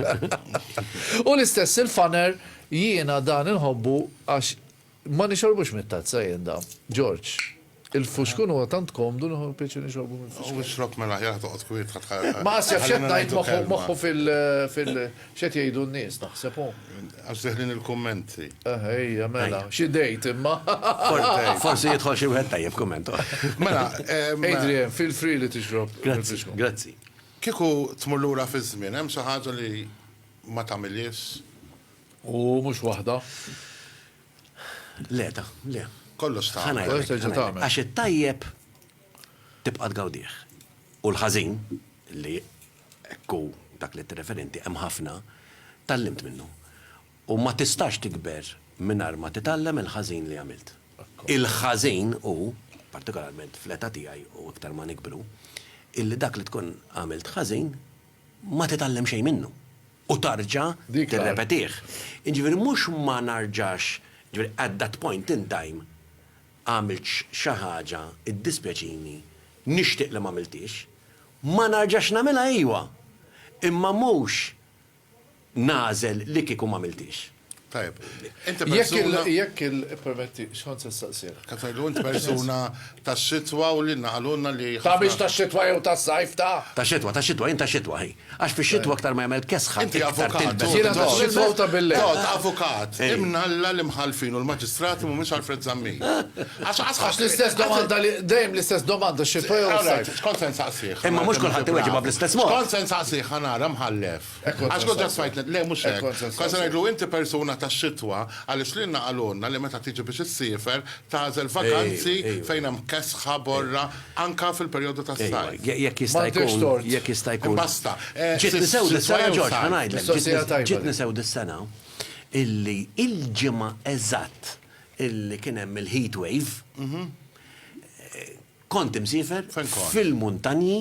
U l-istess il-faner jiena dan inħobbu għax Ma nixorbux mit-tazza jien da. George, Il-fuxkun huwa tant komdu nieħu pjaċir nixorbu mill-fuxkun. U ixrob mela aħjar toqgħod kwiet ħadd ħa. Ma qas jaf x'qed ngħid moħħu moħħu fil fil x'qed jgħidu n-nies naħseb hu. Għax deħlin il-kummenti. Eħe hija mela. Xi date imma. Forsi jidħol xi wieħed tajjeb kumment. Mela. Adrian, feel free li tixrob. Grazzi, grazzi. Kieku tmur lura fiż-żmien hemm xi ħaġa li ma tagħmilhiex U mhux waħda. Le, ta, le. Kollox ta. Ħa ngħidlek. Terġa' tagħmel. Għax it-tajjeb tibqa' tgawdih. U l-ħażin, li hekk hu dak li tirreferi inti, hemm ħafna, tgħallimt minnu. U ma tistax tikber mingħajr ma titgħallem il-ħażin li għamilt. Il-ħażin hu, partikolarment fl-età tiegħi u iktar ma nikbru, illi dak li tkun għamilt ħażin, ma titgħallem xejn minnu u tarġa' tirrepetih. Jiġifieri mhux ma narġax, jiġifieri at that point in time għamilt xi ħaġa, iddispjaċini, nixtieq li m'għamilthiex, ma narġax nagħmilha iva, imma mhux nagħżel li kieku m'għamilthiex. Tajjeb. Inti persuna. Jekk il, jekk il, ippermetti, x'kont se nistaqsih? Kont ngħidlu int persuna tas-xitwa u li naqalulna li ħafna. Ta' biex tax-xitwa jew tas-sajf, ta'? Tax-xitwa, tax-xitwa, jien tax-xitwa, hi. Għax fix-xitwa aktar ma jagħmel kesħa, iktar tilbes. Inti avukat, jiena tax-xitwa u ta' bil-lejl. Tgħodd avukat, imnalla l-imħallfin u l-maġistrati m'humiex Alfred Zammit. Għax, għax, għax l-istess domanda li, dejjem l-istess domanda, x-xitwa jew is-sajf. X'kont se nsaqsih? Imma mhux kulħadd iweġibha bl-istess mod. X'kont se nsaqsih, ħa nara, mħallef? Għax kont ġast ngħidlek, le mhux hekk, kont se ngħidlu inti persuna tax-xitwa għaliex lilna qalulna li meta tiġi biex issiefer tagħżel vaganzi fejn hemm kesħa, borra, anke fil-perjodu tas-sajf. Jekk jista' jkun, jekk jista' jkun. Imbasta. Ġietni sewda s-sena, Ġorġ, ħa ngħidlek, ġietni sewda s-sena illi il-ġimgħa eżatt illi kien hemm il-heat wave, kont imsiefer fil-muntanji,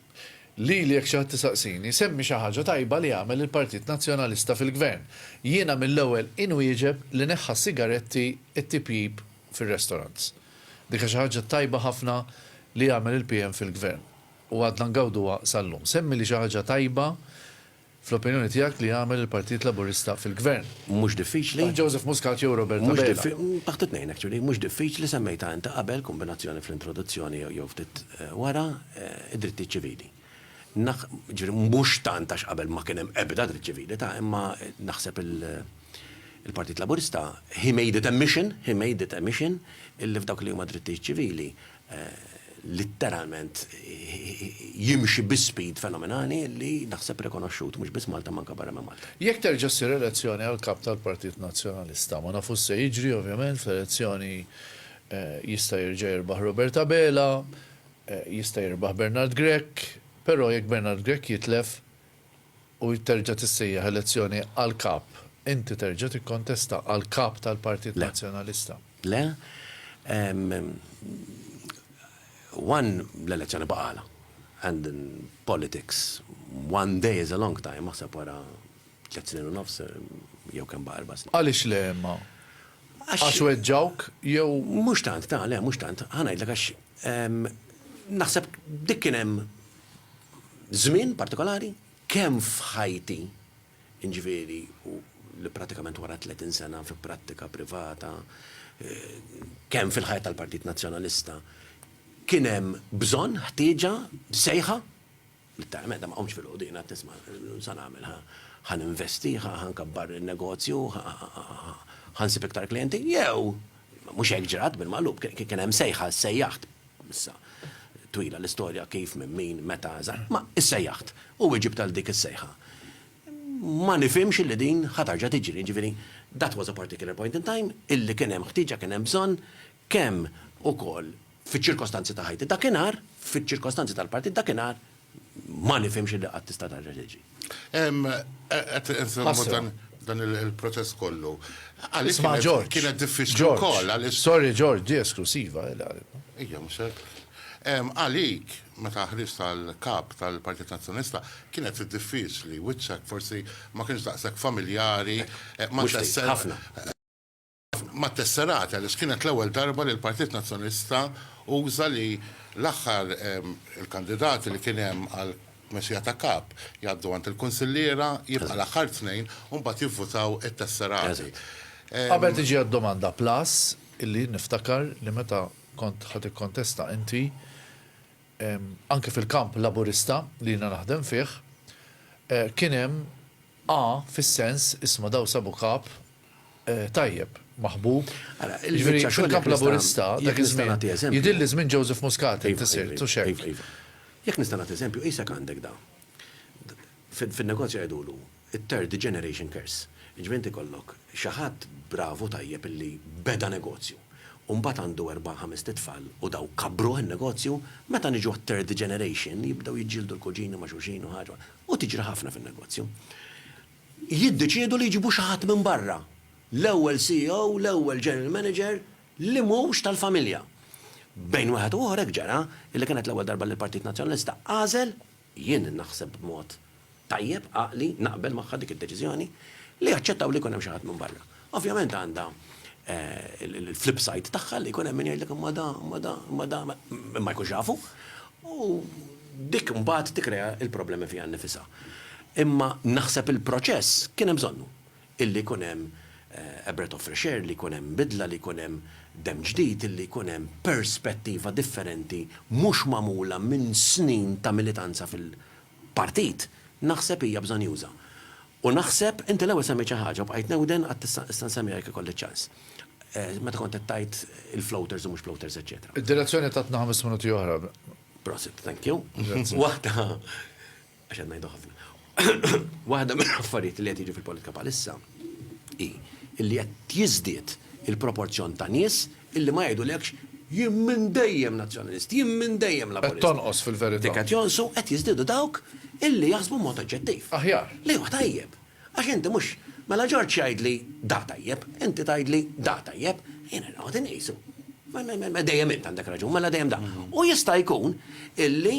Lili jekk xi ħadd isaqsini, semmi xi ħaġa tajba li għamel il-Partit Nazzjonalista fil-Gvern. Jiena mill-ewwel inwieġeb li neħħa s-sigaretti, it-tipjip fir-restaurants. Dik xi ħaġa tajba ħafna li għamel il-PM fil-Gvern u għadna ngawduha sal-lum. Semmili xi ħaġa tajba fl-opinjoni tiegħek li jagħmel il-Partit Laburista fil-Gvern? Mhux diffiċli. Taħt Joseph Muscat jew Robert Abela? Taħt it-tnejn actually. Mhux diffiċli, semmejtha inti qabel, kombinazzjoni fl-introduzzjoni jew ftit wara, id-drittijiet ċivili. Ġifieri mhux tant għax qabel ma kien hemm ebda dritt ċivili ta' imma naħseb il-Partit Laburista, he made it a mission, he made it a mission, illi f'dawk li huma drittijiet ċivili, litteralment jimxi bi speed fenomenali li naħseb rikonoxxut mhux biss Malta imma anke barra minn Malta. Jekk terġa' ssir elezzjoni għall-Kap tal-Partit Nazzjonalista, ma nafux se jiġri ovvjament, fl-elezzjoni jista' jerġa' jirbaħ Robert Abela, jista' jirbaħ Bernard Grech, però jekk Bernard Grech jitlef, u terġa' tissejjaħ elezzjoni għal Kap, inti terġa' tikkontesta għal Kap tal-Partit Nazzjonalista? Le. One, l-elezzjoni baqgħalha. And in politics, one day is a long time, aħseb wara tliet snin u nofs, jew kemm baqa' erba' snin. Għaliex le imma? Għax weġġgħuk jew? Mhux tant, ta' le, mhux tant. Ħa ngħidlek għax naħseb dik kien hemm żmien partikolari, kemm f'ħajti, jiġifieri li prattikament wara 30 sena fi prattika privata, kemm fil-ħajja tal-Partit Nazzjonalista, kien hemm bżonn, ħtieġa, sejħa, li tara meta ma qomtx filgħodu jiena tisma' sa nagħmel ħa ħa ninvesti, ħa ħa nkabbar in-negozju, ħa nsib iktar klijenti, jew mhux hekk ġrat bil-magħlub, kien hemm sejħa, sejjaħt Issa, twila l-istorja kif, minn min, meta, eżatt. Ma issejjaħt u weġibt għal dik is-sejħa. Ma nifhimx li din ħa terġa' tiġri. Jiġifieri, that was a particular point in time illi kien hemm ħtieġa, kien hemm bżonn, kemm ukoll fiċ-ċirkostanzi ta' ħajti dakinhar, fiċ-ċirkostanzi tal-partit dakinhar, Ma nifhimx illi qatt tista' tarġa' tiġi. Qed insemmu dan dan il-proċess kollu. Għaliex Isma' George. Kienet diffiċli George. wkoll għaliex Sorry George, di esklusiva, eh, l-għalib. Ejja, mhux hekk. Em, Għalik, meta ħriġt tal-kap tal-Partit Nazzjonalista, kienet diffiċli, wiċċek forsi ma kienx daqshekk familjari, eh, ma Mhux ftit, tessel- ħafna. mat-tesserati għaliex kienet l-ewwel darba li l-Partit Nazzjonalista uża li l-aħħar il-kandidati li kien hemm għall-tmexxija ta' kap jgħaddu għand il-kunsilliera, jibqa' l-aħħar tnejn u mbagħad jivvutaw it-tesserati. Qabel tiġi għad-domanda, plus illi jien niftakar li meta kont ħa tikkontesta inti, anke fil-kamp Laburista li jiena naħdem fih, kien hemm A fis-sens, isma' daw sabu kap, tajjeb, maħbub. Jiġifieri fil-kamp Laburista dak iż-żmien jidhirli żmien Joseph Muscat inti sirt, hux hekk? Jekk nista' nagħti eżempju, qisek għandek da. Fin-negozju jgħidulu it-third generation curse. Jiġifieri inti jkollok xi ħadd bravu tajjeb illi beda negozju u mbagħad għandu erba' ħamest itfal u dawk kabbruh in-negozju, meta niġu għat-third generation jibdew jiġġieldu l-kuġini ma' xulxin u ħaġa u tiġri ħafna fin-negozju. jiddeċiedu li jġibu xi ħadd minn barra, l-ewwel CEO, l-ewwel General Manager li mhux tal-familja. Bejn wieħed u ieħor hekk ġara li kienet l-ewwel darba li l-Partit Nazzjonalista għażel, jien naħseb b'mod tajjeb, għaqli, naqbel magħha dik id-deċiżjoni, li jaċċettaw li jkun hemm xi ħadd minn barra. Ovvjament għandha l-flip side tagħha li jkun hemm min jgħidlek imma da, imma da, imma da, imma jkunx jafu. U dik mbagħad tikkrea l-problemi fiha nnifisha. Imma naħseb il-proċess kien hemm bżonnu. Illi jkun hemm a breath of fresh air, li jkun hemm bidla, li jkun hemm demm ġdid, illi jkun hemm perspettiva differenti mhux magħmula minn snin ta' militanza partit, naħseb hija bżonjuża. U naħseb, inti l-ewwel semmejt xi ħaġa u bqajt newden għad tista' issa nsemmiha jekk ikolli ċ-ċans. Meta kont qed tgħid il-floaters u mhux ploters eċċetera. Id-direzzjoni tatna ħames minuti oħra. Prosit, thank you. Waħda, għax qed ngħidu ħafna. Waħda mill-affarijiet li qed jiġu fil-politika bħalissa hi illi qed jiżdied il-proporzjon ta' nies Illi ma jgħidulekx, Jien minn dejjem Nazzjonalist, jien minn dejjem Laburist. Qed tonqos fil-verità. Dik qed jonqsu, qed jiżdiedu dawk illi jaħsbu b'mod oġġettiv. Aħjar. Li hu tajjeb. Għax inti mhux, mela Ġorġ jgħidli da tajjeb, inti tgħidli da tajjeb, jiena noqgħod inqisu. Mela dejjem int għandek raġun, mela dejjem da. U jista' jkun illi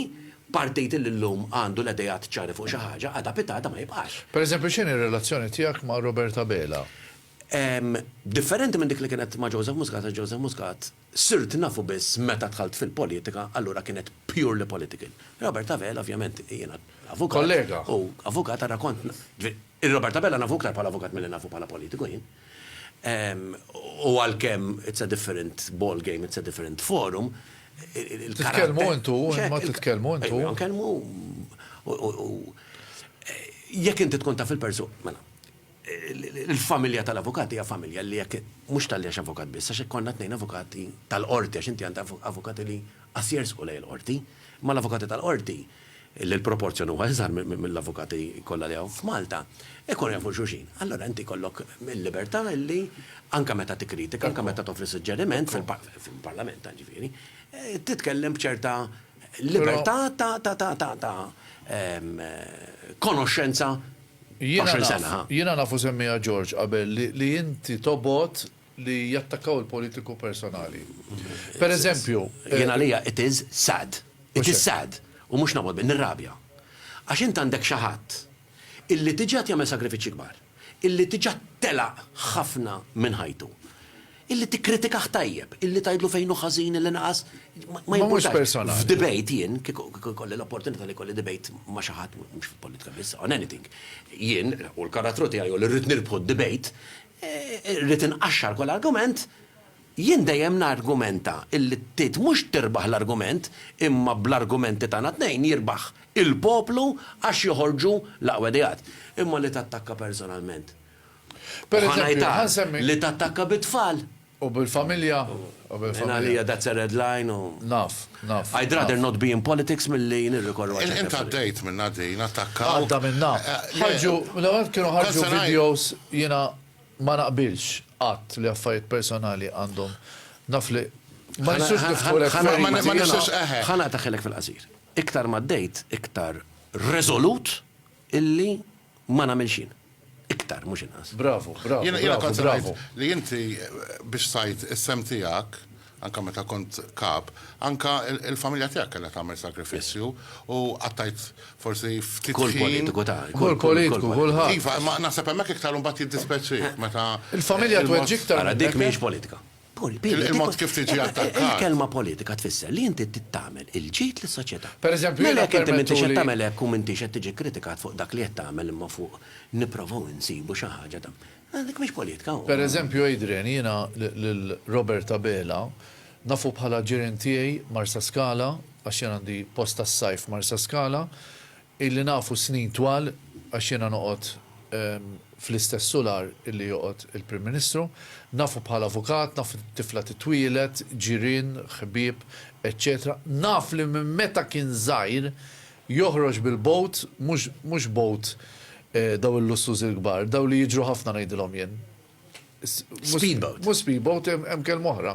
partit illi llum għandu l-ideat ċari fuq xi ħaġa, għada pitgħada ma jibqax. Pereżempju x'inhi r-relazzjoni tiegħek ma' Robert Abela? Differenti minn dik li kienet ma' Joseph Muscat għax Joseph Muscat sirt nafu biss meta dħalt fil-politika allura kienet purely political. Robert Abela ovvjament jiena avukat. Kollega. U avukat ara kont ġifieri Robert Abela nafu iktar bħala avukat milli nafu bħala politiku jien. U għalkemm it's a different ball game, it's a different forum, il-karatter. Titkellmu intu, imma titkellmu intu. Ejja, nkellmu u jekk inti tkun taf il-persu, mela. Il-familja tal-avukat hija familja li jekk mhux talli għax avukat biss, għax hekk konna tnejn avukati tal-qorti għax inti għandek avukati li qas jersqu lejn il-qorti. Imma l-avukati tal-qorti, li l-proporzjon huwa iżgħar mill-avukati kollha li hawn f'Malta, ikunu jafu xulxin. Allura inti jkollok il-libertà li anke meta tikkritika, anke meta toffri suġġeriment fil-Parlament ġifieri, titkellem b'ċerta libertà ta' konoxxenza 20 sena, ha? Jiena naf u semmiha George qabel li inti tobgħod li jattakkaw il-politiku personali. Per eżempju. Jien għalija it is sad. It is sad. U mhux nobgħod bih, nirrabja. Għax int għandek xi ħadd illi diġà qed jagħmel sagrifiċċji kbar, illi diġà telaq ħafna minn ħajtu. Illi tikkritikah tajjeb, illi tgħidlu fejn hu ħażin, illi naqas, ma jimpurtax. F'debate jien, kieku jkolli l-opportunità li jkolli debate ma' xi ħadd, mhux fil-politika biss, on anything, jien, u l-karattru tiegħi hu li rrid nirbħu d-debate, irrid inqaxxar kull argument, jien dejjem nargumenta illi tgħid mhux tirbaħ l-argument, imma bl-argumenti tagħna t-tnejn jirbaħ il-poplu għax joħorġu l-aqwa ideat. Imma li tattakka personalment, U ħa ngħidha li tattakka bit-tfal. U bil-familja. Minn għalija that's a red line u. Naf, naf. I'd rather not be in politics milli nirrikorru għal xi. Int għaddejt minnha din, attakkaw. Għadda minnha. Ħarġu, l-ewwel kienu ħarġu videos jiena ma naqbilx qatt li affarijiet personali għandhom naf li ma nistgħux niftħu lek feriti. Ħa naqtaħilek fil-qasir. Iktar ma għaddejt, iktar reżolut illi Ma nagħmilx jien. Iktar, mhux inqas. Bravu, bravu, bravu, bravu. Jiena kont se ngħid li inti biex tajt is-sehem tiegħek, anke meta kont Kap, anke l-familja tiegħek kellha tagħmel sagrifiċċju u qattajt forsi ftit ħin. Kull politiku ta. Kull politiku, kulħadd. Iva, imma naħseb hemmhekk iktar imbagħad jiddispeċik meta. Il-familja tweġġi iktar. Ara, dik mhijiex politika. Il-mod kif tiġi attakkat. Il-kelma politika tfisser li inti trid tagħmel il-ġid lis-soċjetà. Pereżempju, jiena Mela jekk inti m'intix qed tagħmel hekk u m'intix qed tiġi kkritikat fuq dak li qed tagħmel imma fuq nipprovaw insibu xi ħaġa ta' Mela dik mhix politika. Pereżempju, Adrian, jiena lil Robert Abela nafu bħala ġirien tiegħi Marsaskala, għax jien għandi post tas-sajf Marsaskala, Ili nafu snin twal, għax jiena noqgħod fl-istess sular li joqgħod il-Prim Ministru. Nafu bħala avukat, naf tifla titwieled, ġirien, ħbieb, eċċetera. Naf li minn meta kien żgħir joħroġ bil-boat, mhux mhux boat daw il-lussużi l-kbar, daw li jiġru ħafna ngħidilhom jien. Speedboat. Mhux speedboat, hemm kelma oħra.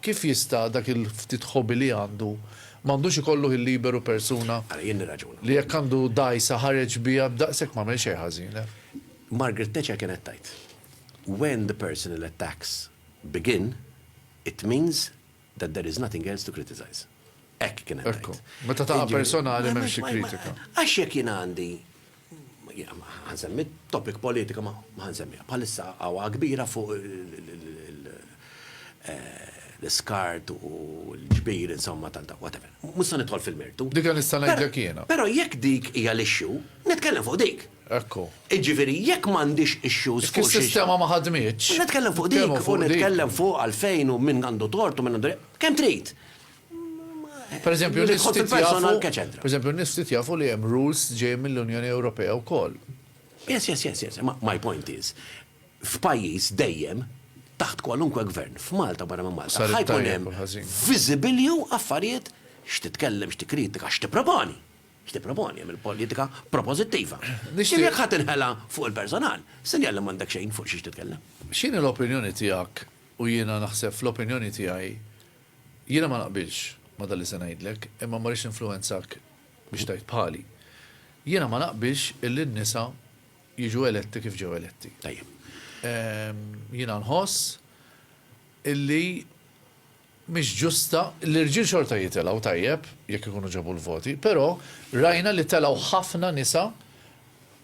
Kif jista' dak il-ftit ħobi li għandu, ma għandux ikollu ħin liberu persuna Ara, jien nirraġuna. li jekk għandu dgħajsa ħareġ biha b'daqshekk m'għamel xejn ħażin, eh? Margaret Thatcher kienet tgħid, When the personal attacks begin, it means that there is nothing else to criticize. Hekk kienet tgħid. Ekku. Meta taqa' personali m'hemmx xi kritika. Għax jekk jien għandi Jiena ma ħansemmi topic politika ma ħansemmiha. Bħalissa għawa kbira fuq l-iskart u l-ġbir insomma tal-da, whatever. Mhux se nidħol fil-mertu. Dik li nista' ngħidlek jiena. Però jekk dik hija l-issue, nitkellem fuq dik. Ekku. Jiġifieri jekk m'għandix issues fuq xi. Jekk is-sistema ma ħadmitx. Nitkellem fuq dik u nitkellem fuq għalfejn u min għandu tort u min għandu. Kemm trid. Per eżempju, n-nies ftit jafu, per eżempju, n-nies ftit jafu li hemm rules ġejjin mill-Unjoni Ewropea wkoll. Yes, yes, yes, yes. My point is, f'pajjiż dejjem taħt kwalunkwe gvern, f'Malta barra minn Malta, ħajkun hemm viżibilju affarijiet x'titkellem, x'tikritika, x'tipproponi. X'tipproponi hemm il-politika proposittiva. Nixtieq jekk ħadd inħela fuq il-personal, sinjal li m'għandek xejn fuq xiex titkellem. X'inhi l-opinjoni tiegħek u jiena naħseb fl-opinjoni tiegħi Jiena ma naqbilx ma' dan li se ngħidlek, imma ma rridx ninfluwenzak biex tgħid bħali. Jiena ma naqbilx illi n-nisa jiġu eletti kif ġew eletti. Tajjeb. Jiena nħoss illi mhix ġusta, l-irġiel xorta jitilgħu tajjeb jekk ikunu ġabu l-voti, però rajna li telgħu ħafna nisa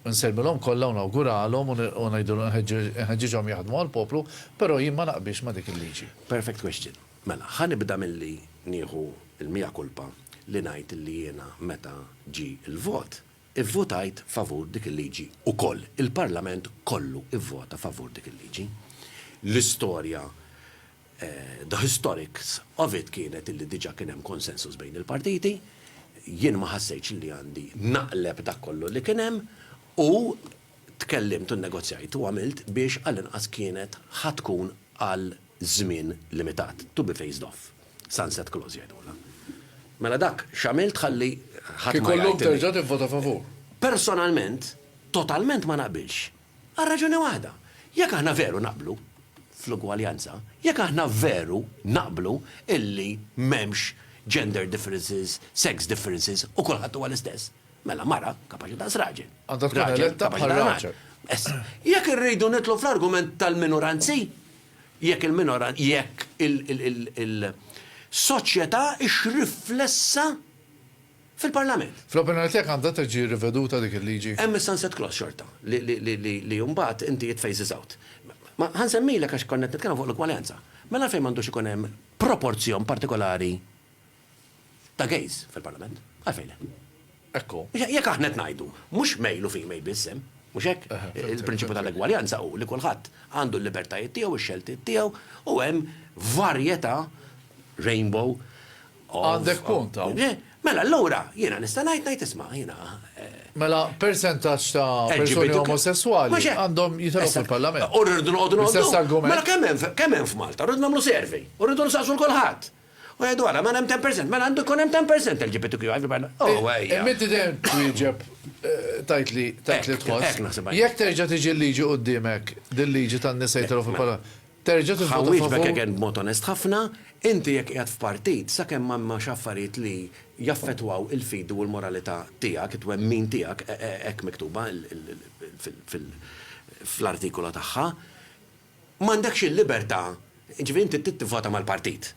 u nsellmilhom kollha u nawguralhom u u ngħidilhom inħeġġiġhom jaħdmu għall-poplu, però jien ma naqbilx ma' dik il-liġi. Perfect question. Mela, ħa nibda milli nieħu l-mea culpa li ngħid illi jiena meta ġie l-vot, ivvotajt favur dik il-liġi wkoll. Il-Parlament kollu vvota favur dik il-liġi. L-istorja The historics of it kienet illi diġa kien hemm consensus bejn il-partiti, jien ma ħassejtx illi għandi naqleb dak kollu li kien hemm u tkellimt u nnegozjajt u għamilt biex għall-inqas kienet ħa tkun għal żmien limitat, to be phased off, sunset clause jgħidulha. Mela dak x'għamilt ħalli ħadd ma jgħid illi. Kieku llum terġa' tivvota favur? Personalment, totalment ma naqbilx. Għal raġuni waħda, jekk aħna veru naqblu fl-ugwaljanza, jekk aħna veru naqblu illi m'hemmx gender differences, sex differences u kulħadd huwa l-istess, mela mara kapaċi daqs raġel, raġel kapaċi daqs mara. Issa, jekk irridu nidħlu fl-argument tal-minoranzi, jekk il-minoranzi, jekk il-soċjetà hix riflessa fil-Parlament. Fl-opinjoni tiegħek għandha tiġi riveduta dik il-liġi? Hemm is-sunset clause xorta li mbagħad inti it phases out. Ma ħa nsemmilek għax konna qed nitkellmu fuq l-ugwaljanza. Mela għalfejn m'għandux ikun hemm proporzjon partikolari ta' gays fil-Parlament? Għalfejn le? Hekk hu. Jekk aħna qed ngħidu mhux male u female biss hemm, mhux hekk? Il-prinċipju tal-egwaljanza hu li kulħadd għandu l-libertajiet tiegħu, ix-xeltiet tiegħu u hemm varjetà, rainbow, Għandek punt hawn. Mela allura jiena nista' ngħid ngħid isma' jiena. Mela persentaġġ ta' persuni omosesswali għandhom jitħlu fil-Parlament. U rridu noqogħdu noqogħdu. L-istess argument. Mela kemm hemm kemm hemm f'Malta? Rridu nagħmlu survey. U rridu nsaqsu 'l kulħadd. U ngħidu ara mela hemm 10 percent, mela għandu jkun hemm 10 percent LGBTQI fil-Parlament. O ejja. Imma inti dejjem twieġeb tgħid li tgħid li tħoss. Hekk naħseb. Jekk terġa' tiġi l-liġi qudiemek, din liġi tan-nisa jitħlu fil-Parlament. Terġa' tivvota favur? Ħa nwieġbek again b'mod onest ħafna, inti jekk qiegħed f'partit, sakemm ma hemmx affarijiet li jaffettwaw il-fidi u l-moralità tiegħek, it-twemmin tiegħek, hekk miktuba fl-artikolu tagħha, m'għandekx il-libertà, jiġifieri inti trid tivvota mal-partit.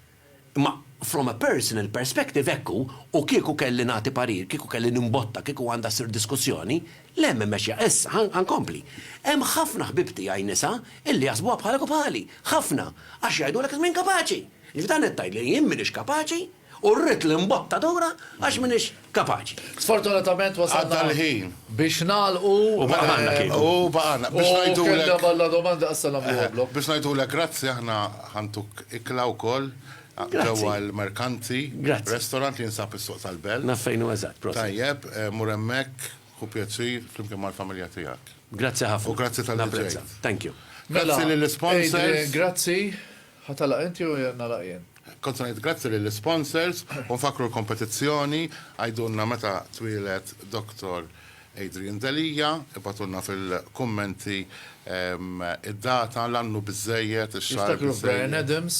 Imma from a personal perspective hekk hu u kieku kelli nagħti parir, kieku kelli nimbotta, kieku għandha ssir diskussjoni, le m'hemm mexja issa, ħa ħa nkompli. Hemm ħafna ħbieb tiegħi nisa illi jaħsbuha bħalek u bħali, ħafna, għax jgħidulek li m'inkapaċi. Jiġifieri dan qed tgħidli li jien m'iniex kapaċi u rrid l-imbottatura għax m'iniex. kapaċi. Sfortunatament wasalna. Għadda l-ħin. Biex nagħlqu. U baqgħna kieku. U baqgħna. Biex ngħidulek. U kellna balla domanda issa nagħmlu għablu. Biex ngħidulek grazzi aħna ħantuk ikla wkoll. Ġewwa l-Merkanti. Grazzi. Restaurant li jinsab is-Suq tal-Belt. Naf fejn hu eżatt, prosit. Tajjeb, mur hemmhekk, ħu pjaċir flimkien mal-familja tiegħek. Grazzi ħafna. U grazzi tal-li ġejt. Thank you. Grazzi lill-isponsors. Grazzi. Ħa tagħlaq inti jew nagħlaq jien? Kont se ngħid grazzi lill-isponsors u nfakkru l-kompetizzjoni, għidulna meta twieled Dr. Adrian Delia, ibgħatulna fil-kummenti id-data, l-ann hu biżżejjed, ix-xahar biżżejjed. Niftakru Bryan Adams.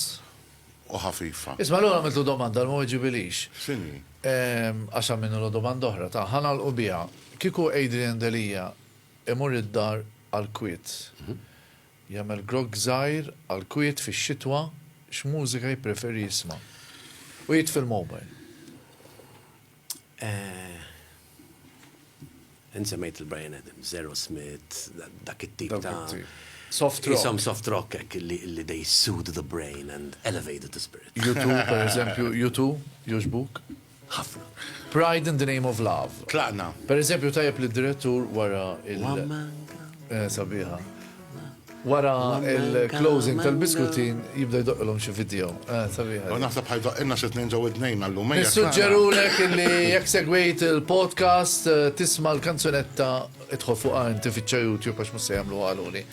U ħafifa. Isma' allura għamiltlu domanda li ma weġibilix. X'inhi? Għax għamilnulu domanda oħra ta' ħa nagħlqu biha. Kieku Adrian Delia imur id-dar għall-kwiet, Jagħmel grogg żgħir għall-kwiet fix-xitwa X'mużika jippreferi jisma'? U jitfi l-mobile. Int semmejt lil Bryan Adams, Aerosmith, dak it-tip ta' Soft rock. Isom soft rock hekk li they soothe the brain and elevate the spirit. U2 pereżempju, U2 jogħġbuk? Ħafna. Pride in the name of love. Tlaqna. Per eżempju tajjeb li d-direttur wara il- One man Eh, sabiħa. Wara il-closing tal-biskutin jibda jdoqqilhom xi video. Eh, sabiħa. U naħseb ħajdoq inna xi tnejn ġew id-dnejn għallum. Nissuġġerulek li jekk segwejt il-podcast eh, tisma' l-kanzunetta Idħol fuqha inti fittxa YouTube għax mhux se jagħmluha għaluli.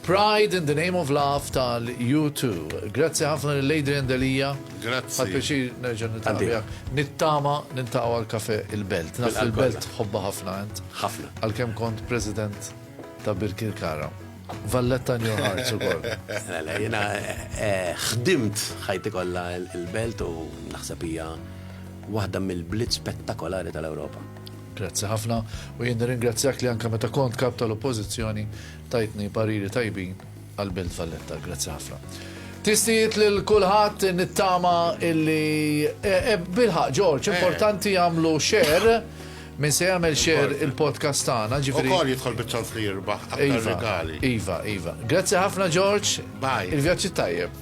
Pride in the Name of Love tal-U2. Grazzi ħafna lil Adrian Delia. Grazzi. Għal pjaċir nerġa' nitgħallem. Nittama nintaqgħu għal kafe il-Belt. Naf il-Belt ħobba ħafna int. Ħafna. Għalkemm kont President ta' Birkirkara. Valletta New Hearts u koll. Mela, jena eh, ħdimt ħajti kollha il-belt u naħseb hija waħda mill-bliet spettakolari tal-Ewropa. Grazzi ħafna u jien nirringrazzjak li anke meta kont Kap tal-Oppożizzjoni tajtni pariri tajbin għal Belt Valletta. Grazzi ħafna. Tistijiet lil kulħadd nittama illi e, e, bilħaq Ġorġ, eh. importanti jagħmlu share minn se jagħmel share il-podcast tagħna, ġifieri. Ukoll jidħol biċ-ċans li jirbaħ aktar iva, regali. Iva, iva. Grazzi ħafna Ġorġ. Bye. Il-vjaġġi tajjeb.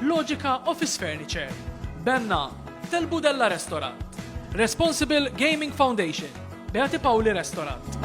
Logica Office Furniture, Benna, Tel Budella Restaurant, Responsible Gaming Foundation, Beati Pauli Restaurant.